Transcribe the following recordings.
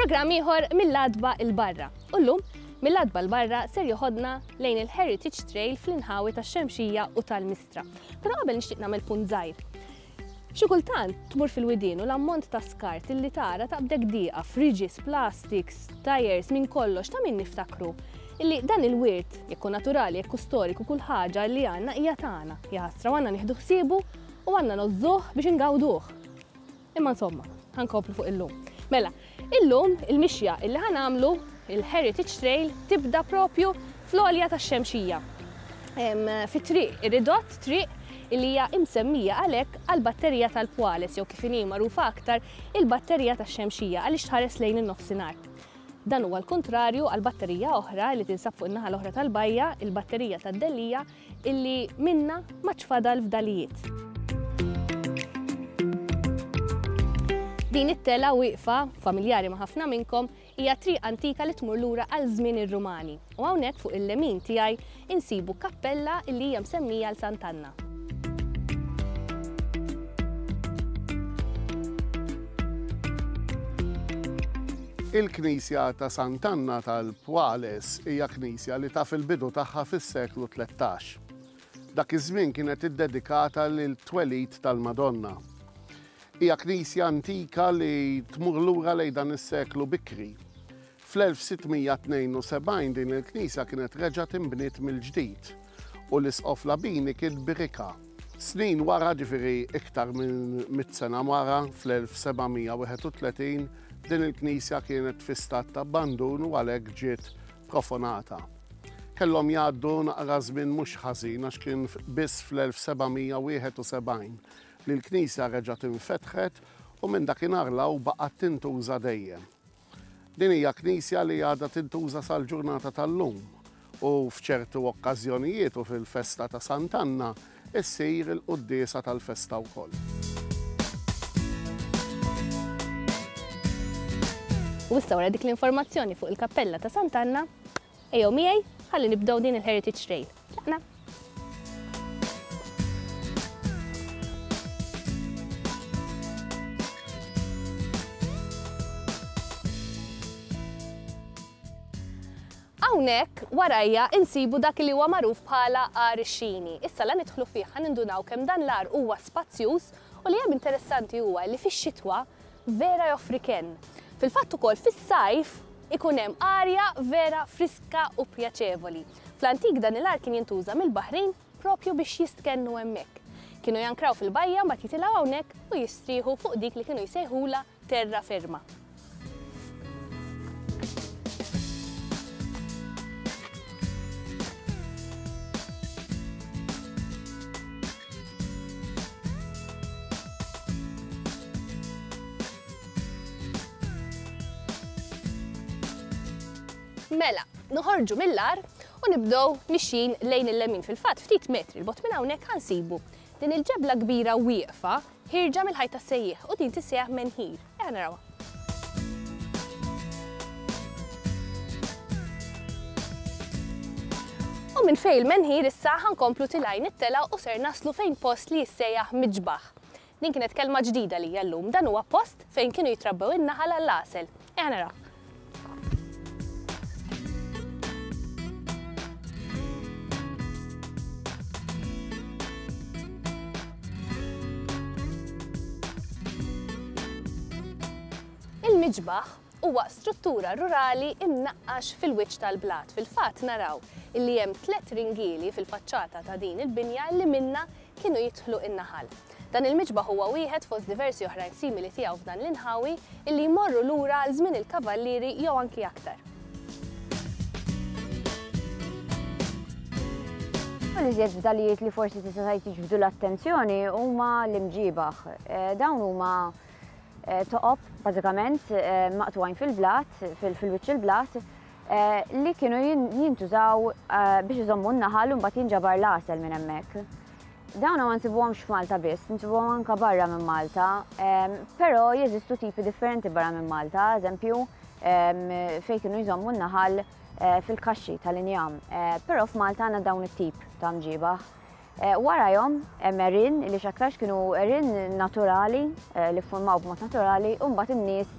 Programm ieħor mill-adba il-barra. U llum mill-adba l-barra ser joħodna lejn il-Heritage Trail fl-inħawi tax-Xemxija u tal-Mistrieħ. eċċetera. Però qabel nixtieq nagħmel punt żgħir. Xi kultant tmur fil-widien u l-ammont ta' skart illi tara taqbdek dieqa, friġis, plastiks, tajers, minn kollox ta' min niftakru illi dan il-wirt, jekku naturali, jekku storiku, kull ħaġa li għanna hija tagħna, jaħasra għanna nieħdu ħsiebu u għanna nozzuh biex ingawduh. Imma insomma, ħankomplu fuq illum. Mela, illum il-mixja illi ħanamlu il-Heritage Trail tibda propju fl-olja ta' xemxija. Fi triq, ridott triq illi hija imsemmija għalhekk għall-batterija tal-pwales jew kif inhi magħrufa aktar il-batterija tax-xemxija għaliex tħares lejn in-nofsinhar. Dan huwa l-kuntrarju għal batterija oħra li tinsab fuq in-naħa l-oħra tal-bajja, il-batterija tad-dellija, Illi minnha m'għadx fadal fdalijiet. Din it-telgħa wieqfa, familjari ma' ħafna minnkom, hija triq antika li tmur lura għal żmien ir-Rumani u hawnhekk fuq il-lemin tiegħi insibu kappella illi hija msemmija għal Sant' Anna. Il-Knisja ta' Sant'Anna tal-Pwales hija knisja li taf il-bidu tagħha fis-seklu tlettax. Dak iż-żmien kienet iddedikata lit-twelid tal-Madonna. Hija knisja antika li tmur lura lejn dan is-seklu bikri. Fl-1672 din il-knisja kienet reġgħet inbniet mill-ġdid. u l-Isqof Labini kien Birika. Snin wara, ġifieri iktar minn mitt sena wara, fl-1731, din il-knisja kienet fi stat ta' abbandun u għalhekk ġiet profonata. Kellhom jgħaddu naqra żmien mhux ħażin għax kien biss fl-1771 li l-knisja reġgħet infetħet u minn dakinhar 'l hawn baqgħet tintuża dejjem. Din hija knisja li għadha tintuża sal-ġurnata tal-lum u f'ċertu okkażjonijiet u fil-festa ta' Sant'Anna ssir il-quddiesa tal-festa wkoll. U issa wara dik l-informazzjoni fuq il-Kappella ta' Sant'Anna, Ejjew miegħi, ħalli nibdew din il-Heritage Trail. Tlaqna! Hawnhekk warajja insibu dak li huwa magħruf bħala għar ix-xini. Issa la nidħlu fih ħa nindunaw kemm dan l-għar huwa spazjuż u li hemm interessanti huwa li fix-xitwa vera joffri kenn. Fil-fatt ukoll fis-sajf ikun hemm arja vera friska u pjaċevoli. Fl-antik dan il-art kien jintuża mill-baħrin proprju biex jistkennu hemmhekk. Kienu jankraw fil-bajja mbagħad jitilgħu hawnhekk u jistrieħu fuq dik li kienu jsejħulha terra ferma. Mela, noħorġu mill-għar u nibdew mixjin lejn il-lemin. Fil-fatt, ftit metri l-bot minn hawnhekk ħansibu din il-ġebla kbira wieqfa Ħierġa mill-ħajt tas-sejjieħ u din tissejjaħ menhir. Ejja narawha. U minn fejn il-menhir issa ħa nkomplu tilgħin it-telgħa u ser naslu fejn post li jissejjaħ Miġbaħ. Din kienet kelma ġdida għalija llum. Dan huwa post fejn kienu jitrabbew in-naħal għall-għasel. Eħ naraw. Il-miġbaħ huwa struttura rurali imnaqqax fil-wiċċ tal-blat. Fil-fatt naraw li hemm tliet ringieli fil-faċċata ta' din il-binja li minna kienu jidħlu in-naħal. Dan il-miġbaħ huwa wieħed fost diversi oħrajn simili tiegħu f'dan l-inħawi illi jmorru lura għal żmien il-Kavallieri jew anki aktar. Uħud iżjed fdalijiet li forsi tista' tgħid jiġbdu l-attenzjoni huma l-imġiebaħ. Eh, dawn huma eh, toqob bażikament eh, maqtwajn fil-blat, fil-wiċċ il-blat, li kienu jintużaw biex iżommu n-naħal u mbagħad jinġabar l-għasel minn hemmhekk. Dawna ma nsibuhomx f'Malta biss, nsibuhom anka barra minn Malta, però jeżistu tipi differenti barra minn Malta, eżempju, fejn kienu jżommu n-naħal fil-kaxxi tal-injam. Però f'Malta għandna dawn it-tip ta' mġiebaħ. Warajhom hemm għerien li x'aktarx kienu għerien naturali li ffurmaw b'mod naturali u mbagħad in-nies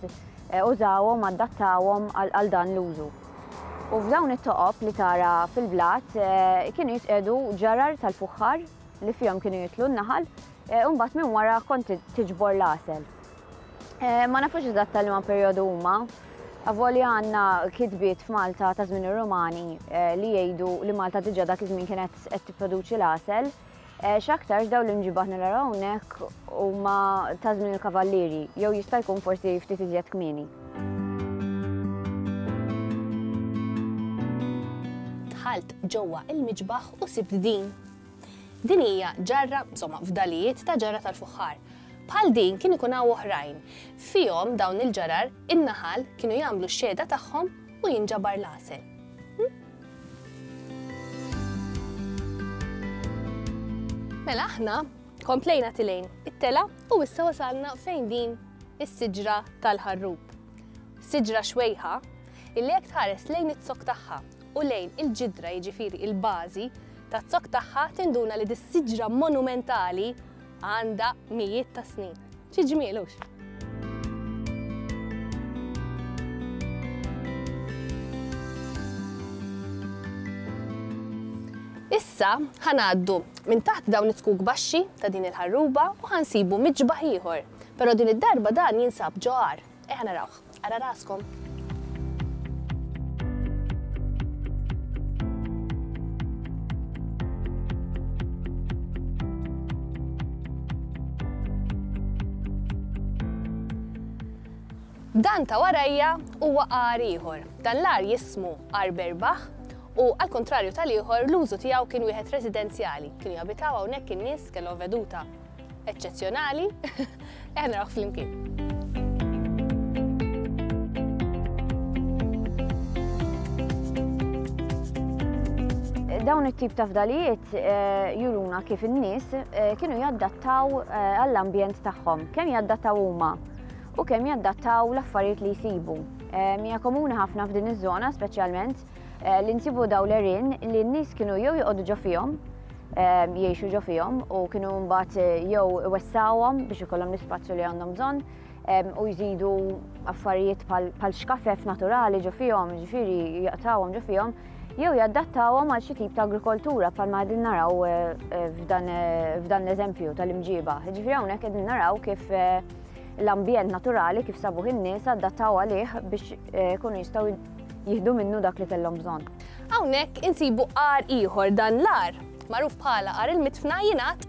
użawhom, adattawhom għal dan l-użu. U f'dawn it-toqob li tara fil-blat kienu jitqiegħdu ġarar tal-fuħħar li fihom kienu jitlu n-naħal u mbagħad minn wara kont tiġbor l-għasel. Eh, ma nafux eżatt tal ma perjodu huma. Avolja għandna kitbiet f'Malta ta' żmien ir-Rumani eh, li jgħidu li Malta diġà dak iż-żmien kienet qed tipproduċi l-għasel. Eh, x'aktarx daw l-imġibaħ naraw hawnhekk huma ta' żmien il-kavallieri jew jista' jkun forsi ftit iżjed kmieni. Dħalt ġewwa il-miġbaħ u sibt din. Din hija ġarra, insomma, fdalijiet ta' ġarra tal-fuħħar Bħal din kien ikun hawn oħrajn. Fihom dawn il-ġarar, in-naħal kienu jagħmlu x-xehda tagħhom u jinġabar l-għasel. Mela aħna komplejna tilejn it-tela u issa wasalna fejn din is-siġra tal-ħarrub. Siġra xwejħa illi jekk tħares lejn it-zok tagħha u lejn il-ġidra jiġifieri il-bażi taz-zok tagħha tinduna li dis-siġra monumentali Għandha mijiet ta' snin. Xi ġmiel hux! Issa ħa ngħaddu minn taħt dawn it-tkuk baxxi ta' din il-ħarruba u ħa nsibu miġbaħ ieħor, però din id-darba dan jinsab ġo għar. Ejja narawh. Ara raskom. Dan ta' warajja huwa għar ieħor. Dan l-għar jismu għar berbaħ u għal kontrarju tal-ieħor l-użu tiegħu kien wieħed residenzjali. Kienu jabitaw hawnhekk in-nies kellhom veduta eċċezzjonali, eħna naraw flimkien. dawn it-tip ta' fdalijiet eh, juruna kif in-nies eh, kienu jaddattaw eh, għall-ambjent tagħhom, kemm jaddattaw huma u kemm jaddattaw l-affarijiet li jsibu. Mija komuni ħafna f'din iż-żona, speċjalment Eh, li nsibu daw l-erin li n-nis kienu jew joqogħdu ġo fihom, eh, jiexu ġo fihom u kienu mbagħad eh, jew wessawhom biex ikollhom l-ispazju li għandhom bżonn u jżidu affarijiet pal xkafef naturali ġo fihom, ġifiri jaqtawhom ġo fihom, jew jaddattawhom għal xi tip ta' agrikoltura bħal ma qegħdin naraw f'dan l-eżempju tal-imġiba. Ġifiri hawnhekk qegħdin naraw kif l-ambjent naturali kif sabuħ in-nies addattaw għalih biex kunu jistgħu jieħdu minnu dak li kellhom bżonn. Hawnhekk insibu għar ieħor dan l-għar, magħruf bħala għar il-mitfna jingħad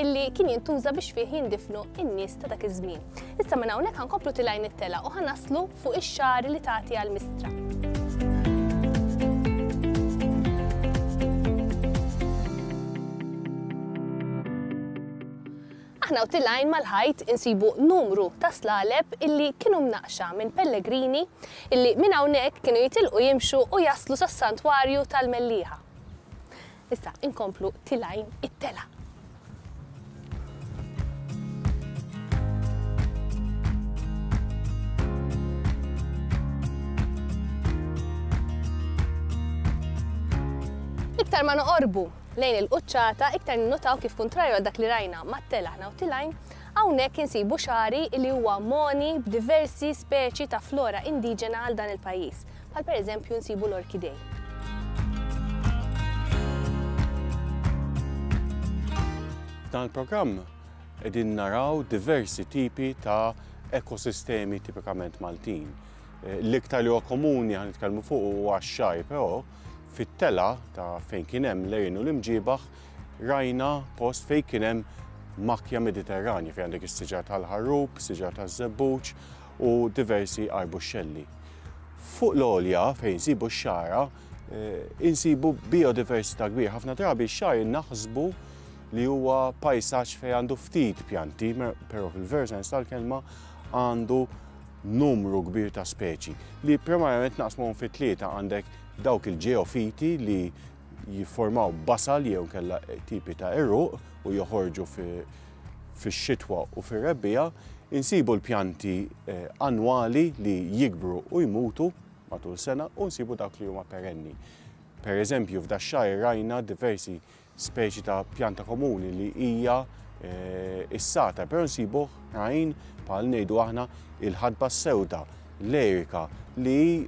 illi kien jintuża biex fih jindifnu in-nies ta' dak iż-żmien. Issa minn hawnhekk ħankomplu tilajn it-tela u ħanaslu fuq ix-xar li tagħti għal mistra. Aħna u tilgħin mal-ħajt insibu numru ta' slaleb illi kienu mnaqqxa minn pellegrini illi minn hawnhekk kienu jitilqu jimxu u jaslu sas-Santwarju tal-Mellieħa. Issa inkomplu tilgħin it-telgħa. Iktar ma noqorbu Lejn il-quċċata, iktar ninnutaw kif kuntrarju għal dak li rajna mat-tel aħna u tilgħin, hawnhekk insibu xagħri li huwa mogħni b'diversi speċi ta' flora indiġena għal dan il-pajjiż, bħal pereżempju nsibu l-orkidej. F'dan il-programm qegħdin naraw diversi tipi ta' ekosistemi tipikament Maltin. Eh, l-iktar li huwa komuni għan nitkellmu fuq huwa x-xajr, però Fit-telgħa ta' fejn kien hemm l-għejn u l-imġiebaħ rajna post fejn kien hemm makja Mediterranja fejn għandek is-siġar tal-ħarrub, siġar taż-żebbuġ u diversi arbuxxelli. Fuq l-għolja fejn sibu x-xara eh, insibu biodiversità kbir. Ħafna drabi x-xar naħsbu li huwa pajsaġġ fejn għandu ftit pjanti, però fil-verżens tal-kelma għandu numru kbir ta' speċi li primarjament naqsmuhom fi tlieta għandek dawk il-ġeofiti li jifformaw basal jew kella tipi ta' irruq u joħorġu fix-xitwa u fir-rebbija, insibu l-pjanti eh, annwali li jikbru u jmutu matul sena u nsibu dawk li huma perenni. Per eżempju, f'dax-xahar rajna diversi speċi ta' pjanta komuni li hija s-sata, però nsibu ħrajn bħal ngħidu aħna il-ħadba s-sewda, l-erika, li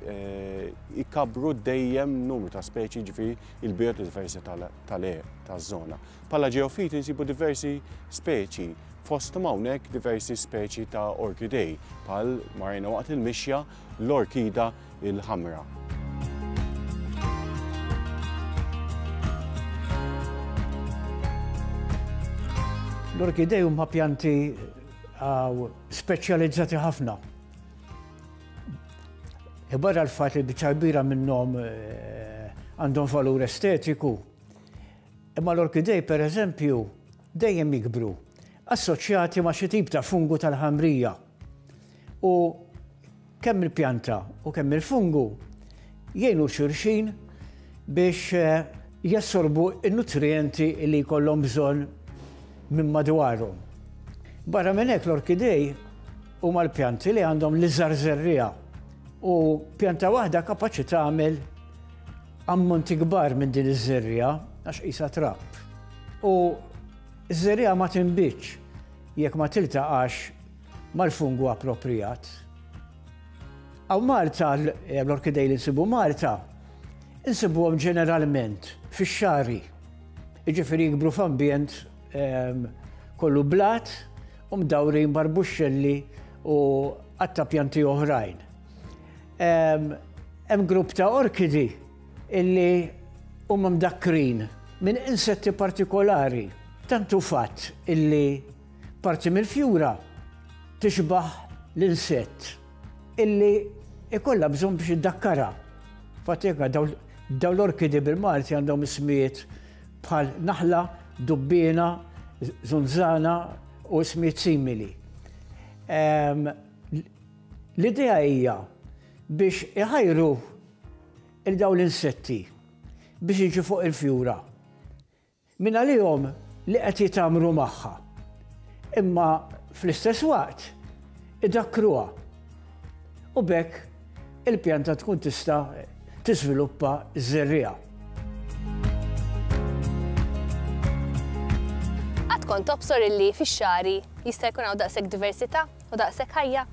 jkabbru dejjem numru ta' speċi ġifieri il-biodiversità taż-żona. Bħala ġeofiti nsibu diversi speċi fosthom hawnhekk diversi speċi ta' orkidej bħal ma rajna waqt il-mixja l-Orkida l-Ħamra. L-orkidej huma pjanti speċjalizzati ħafna. Barra l-fat li biċċa kbira minnhom eh, għandhom valur estetiku, imma l-orkidej per eżempju dejjem jikbru assoċjati ma' xi tip ta' fungu tal-ħamrija. U kemm il-pjanta u kemm il-fungu jgħinu xulxin biex eh, jassorbu n-nutrijenti li jkollhom bżonn minn madwarhom. Barra minn hekk l-orkidej huma l-pjanti li għandhom l-iżgħar żerriegħa u pjanta waħda kapaċi tagħmel ammonti kbar minn din iż-żerriegħa għax qisha trab. U ż-żerriegħa ma tinbitx jekk ma tiltaqax mal-fungu appropriat. Għaw Malta, eh, l-orkidej li nsibu Malta, nsibuhom ġeneralment fix-xari. Iġifieri jikbru f'ambjent ehm, kollu blat u mdawrin barbuxxelli u għatta pjanti oħrajn. Ehm, hemm grupp ta' orkidi illi huma mdakrin minn insetti partikolari. Tantu fatt illi Parti mill-fjura tixbaħ l-insett illi ikollha bżonn biex iddakkarha. Fatika daw l-orkidi bil-Malti għandhom ismijiet bħal naħla, dubbina, zunzana u ismijiet simili. Ehm, l-idea hija biex iħajru il-daw l-insetti biex iġi fuq il-fjura. Mingħalihom li qed jitgħammru magħha, imma fl-istess waqt idakkruha u b'hekk il-pjanta tkun tista' tiżviluppa ż-żerriegħa. Qatt kont tobsor illi fix-xagħri jista' jkun hawn daqshekk diversità? u daqshekk ħajja.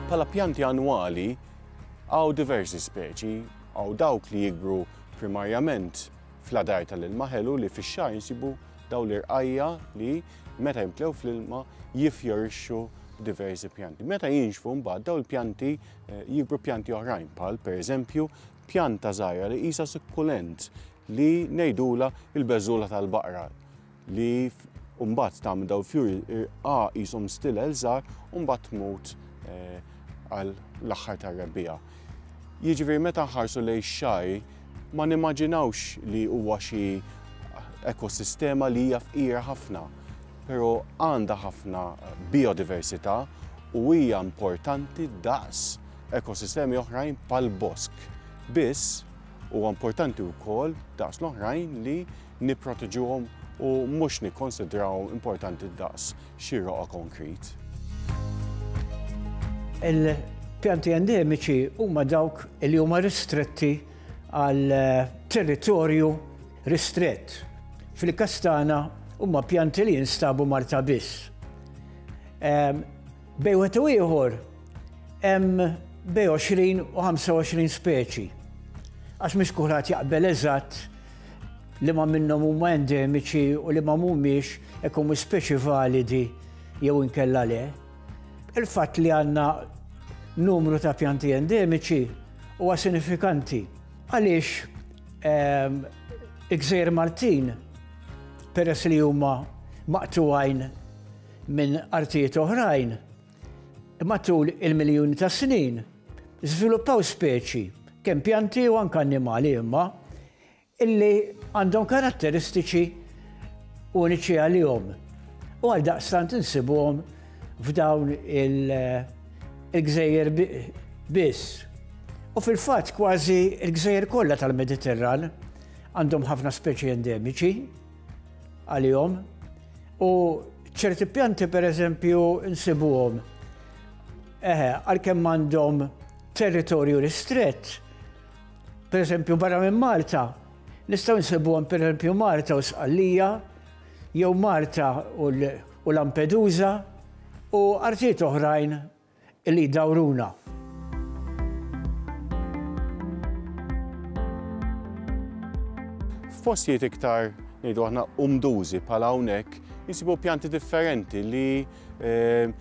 Bħala pjanti annwali hawn diversi speċi, hawn dawk li jikbru primarjament fl-adar tal-ilma ħelu li fix-xahar insibu dawn l-irqajja li meta jimtlew fl-ilma jifjorixxu diversi pjanti. Meta jinxfu mbagħad dawn il-pjanti eh, jikbru pjanti oħrajn bħal pereżempju pjanta żgħira li qisha sukkulent li ngħidulha l-beżula tal-baqra li mbagħad tagħmel daw il-fjuri irqa qishom stilel żgħar u mbagħad tmut eh, għal l-aħħar tar-rebbija. Jiġifieri meta nħarsu lejn xaj ma nimmaġinawx li huwa xi ekosistema li hija fqira ħafna, però għandha ħafna biodiversità u hija importanti daqs ekosistemi oħrajn bħall-bosk. Biss, huwa importanti wkoll, daqs l-oħrajn, li nipproteġuhom u mhux nikkonsidrawhom importanti daqs xi roqgħa konkrit. Il-pjanti endemiċi huma dawk li huma ristretti għal territorju ristrett. Fil-każ tagħna huma pjanti li jinstabu Malta biss. Bejn wieħed u ieħor hemm bejn 20 u 25 speċi. Għax mhux kulħadd jaqbel eżatt li ma minnhom huma endemiċi u li ma mhumiex ikun speċi validi jew inkella le. Il-fatt li għandna numru ta' pjanti endemiċi huwa sinifikanti għaliex ehm, il-gżejjer Maltin peress li huma maqtuwajn minn artijiet oħrajn, matul il-miljuni ta' snin żviluppaw speċi, kemm pjanti u anke annimali imma, illi għandhom karatteristiċi uniċi għalihom u għal daqstant insibuhom f'dawn il-gżejjer biss. U fil-fatt kważi il-gżejjer kollha tal-Mediterran għandhom ħafna speċi endemiċi. għalihom u ċerti pjanti per eżempju nsibuhom eħe għalkemm għandhom territorju ristrett per eżempju barra minn Malta nistgħu nsibuhom per eżempju Malta u Sqallija jew Malta u Lampedusa u artijiet oħrajn li jdawruna. F'postijiet iktar ngħidu aħna umdużi bħal hawnhekk jisibu pjanti differenti li eh,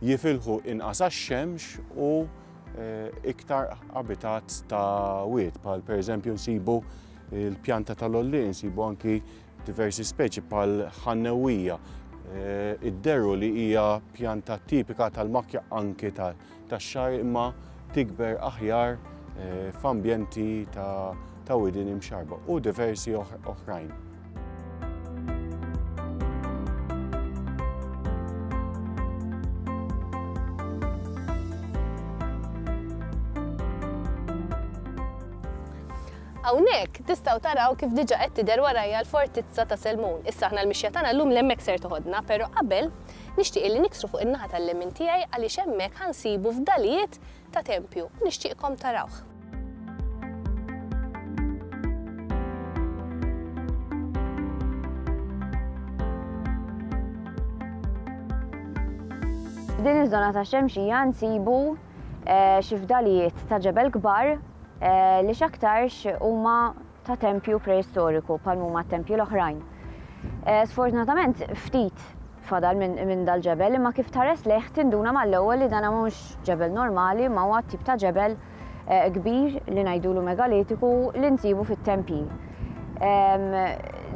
jifilħu inqas għax-xemx u eh, iktar abitat ta' wied, bħal pereżempju nsibu il-pjanta tal-olli, nsibu anki Diversi speċi bħal ħannewwija eh, idderu li hija pjanta tipika tal-makja anki tax-xar imma tikber aħjar eh, f'ambjenti ta' widin imxarba u diversi oħrajn. Hawnhekk tistgħu taraw kif diġa qed tidher warajja l-Fortizza ta' Selmun. Issa aħna l-mixja tagħna llum l-hemmhekk ser toħodna, pero qabel nixtieq illi niksru fuq in-naħa tal-lemin tiegħi għaliex hemmhekk ħa nsibu fdalijiet ta' tempju u nixtieqkom tarawh. F'din iż-żona tax-Xemxija nsibu xi fdalijiet ta' ġebel kbar li x'aktarx huma ta' tempju preistoriku bħal huma t-tempji l-oħrajn. Sfortunatament ftit fadal minn dal-ġebel imma kif tħares lejh tinduna mal-ewwel li dan mhux ġebel normali ma huwa tip ta' ġebel kbir li ngħidulu megalitiku li nsibu fit-tempji.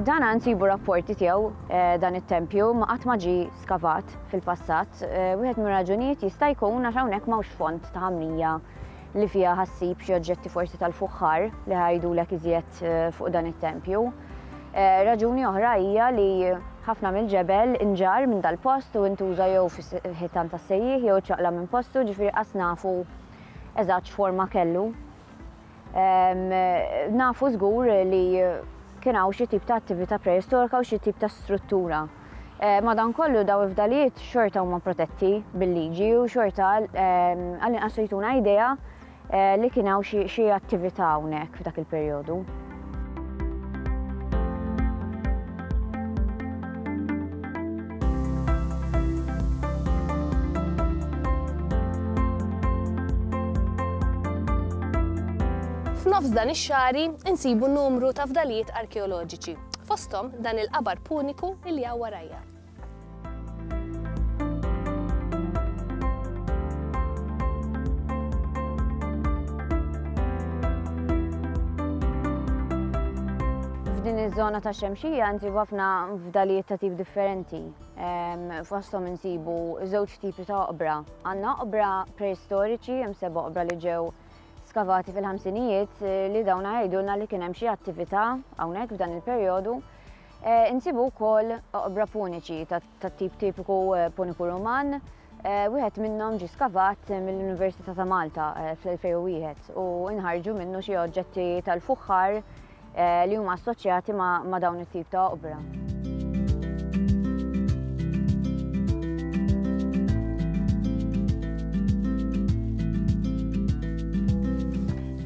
Dan nsibu rapporti tiegħu dan it-tempju ma qatt ma ġie skavat. fil-passat, wieħed mir-raġunijiet jista' jkun għax hawnhekk m'hawnx fond ta' ħamrija li fiha ħa ssib xi oġġetti forsi tal-fuħħar li ħa jgħidulek iżjed fuq dan it-tempju. Raġuni oħra hija li ħafna mill-ġebel inġarr minn dal-post u intuża jew fil-ħitan tas-sejjieħ jew iċċaqlaq minn postu, ġifieri qas nafu eżatt x'forma kellu. Nafu żgur li kien hawn xi tip ta' attività preistorika u xi tip ta' struttura. Madankollu daw il-fdalijiet xorta huma protetti bil-liġi u xorta għall-inqas jtuna idea li kien hawn xi attività hawnhekk f'dak il-perjodu. F'nofs dan ix-xari insibu numru ta' fdalijiet arkeoloġiċi, fosthom dan il-qabar puniku li hawn warajja. f'din iż-żona ta' xemxija nsibu ħafna fdalijiet ta' tip differenti. Fosthom insibu żewġ tipi ta' oqbra. Għandna oqbra preistoriċi, hemm seba' oqbra li ġew skavati fil-ħamsinijiet eh, li dawn jgħidulna li kien hemm xi attività hawnhekk f'dan il-perjodu. Insibu wkoll oqbra puniċi tat-tip tipiku Puniku Ruman, wieħed minnhom ġie skavat mill-Università ta' Malta fl-2001 u nħarġu minnu xi oġġetti tal-fuħħar li huma assoċjati ma' dawn it-tip ta' oqbra.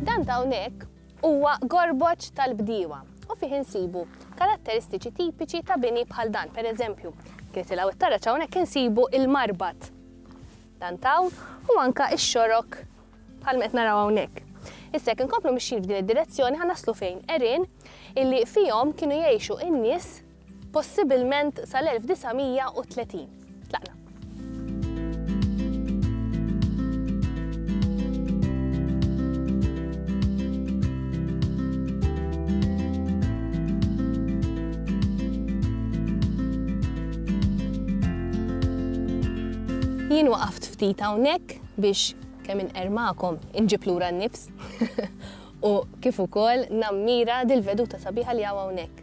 Dan ta' hawnhekk Huwa gorboġ tal-bdiewa u fih insibu karatteristiċi tipiċi ta' bini bħal dan, pereżempju, tliet il hawn it-taraġ hawnhekk insibu il-marbad, dan t'hawn, u anke x-xorok bħalma qed naraw hawnhekk. Issa jekk inkomplu mixjin f'din id-direzzjoni ħa naslu fejn, għerien illi fihom kienu jgħixu n-nies possibilment sal-1930. Tlaqna. Jien waqaft ftit hawnhekk biex kemm inqermakom inġib lura n-nifs u kif ukoll nammira dil-veduta sabiħa li hawn hawnhekk.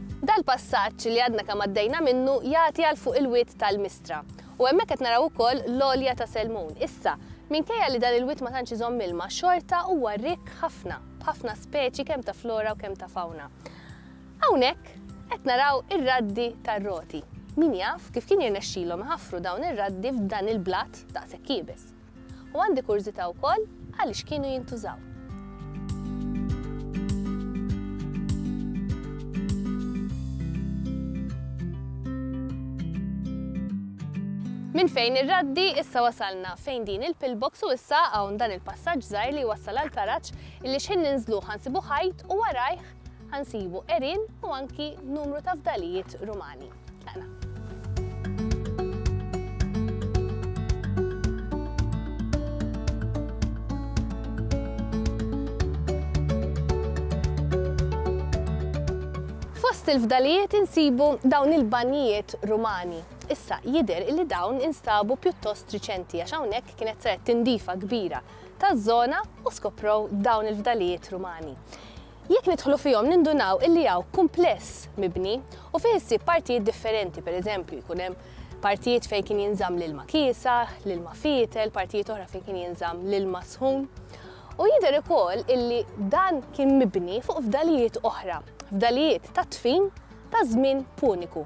Dal-passaġġ li għadna kemm għaddejna minnu jagħti għal fuq il-wied tal-Mistra. U hemmhekk qed naraw ukoll l-għolja ta' Selmun. Issa, minkejja li dan il-wied ma tantx iżomm ilma, xorta huwa rikk ħafna, b'ħafna speċi kemm ta' flora u kemm ta' fawna. Hawnhekk qed naraw ir-raddi tar-Roti. Min jaf kif kien jirnexxilhom iħaffru dawn ir-raddi f'dan il-blat daqshekk iebes. U għandi kurżità wkoll għaliex kienu jintużaw. Minn fejn ir-raddi issa wasalna fejn din il-pillbox u issa hawn dan il-passaġġ żgħir li jwassal għal karaġġ illi x'ħin ninżluh ħansibu ħajt u warajh ħansibu għerien u anki numru ta' fdalijiet Rumani. Fost il-fdalijiet insibu dawn il-banjijiet Rumani. Issa jidher li dawn instabu pjuttost riċenti għax hawnhekk kienet saret tindifa kbira taż-żona u skoprow dawn il-fdalijiet Rumani. Jekk nidħlu fihom nindunaw illi hawn kumpless mibni u fih issib partijiet differenti, per eżempju, jkun hemm partijiet fejn kien jinżamm l-ilma kiesaħ, l-ilma fietel, partijiet oħra fejn kien jinżamm l-ilma sħun. U jidher ukoll illi dan kien mibni fuq fdalijiet oħra, fdalijiet tat-tfin taż-żmien Puniku.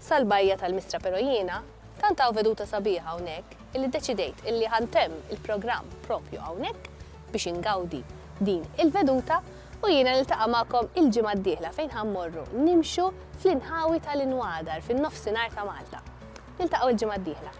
sal-bajja tal-Mistra pero jiena tant hawn veduta sabiħa hawnhekk illi ddeċidejt illi ħa ntemm il-programm propju hawnhekk biex ingawdi din il-veduta u jiena niltaqa' magħkom il-ġimgħa d-dieħla fejn ħa mmorru nimxu fl-inħawi tal-inwadar fin-nofsinhar ta' Malta. Niltaqgħu l-ġimgħa d-dieħla.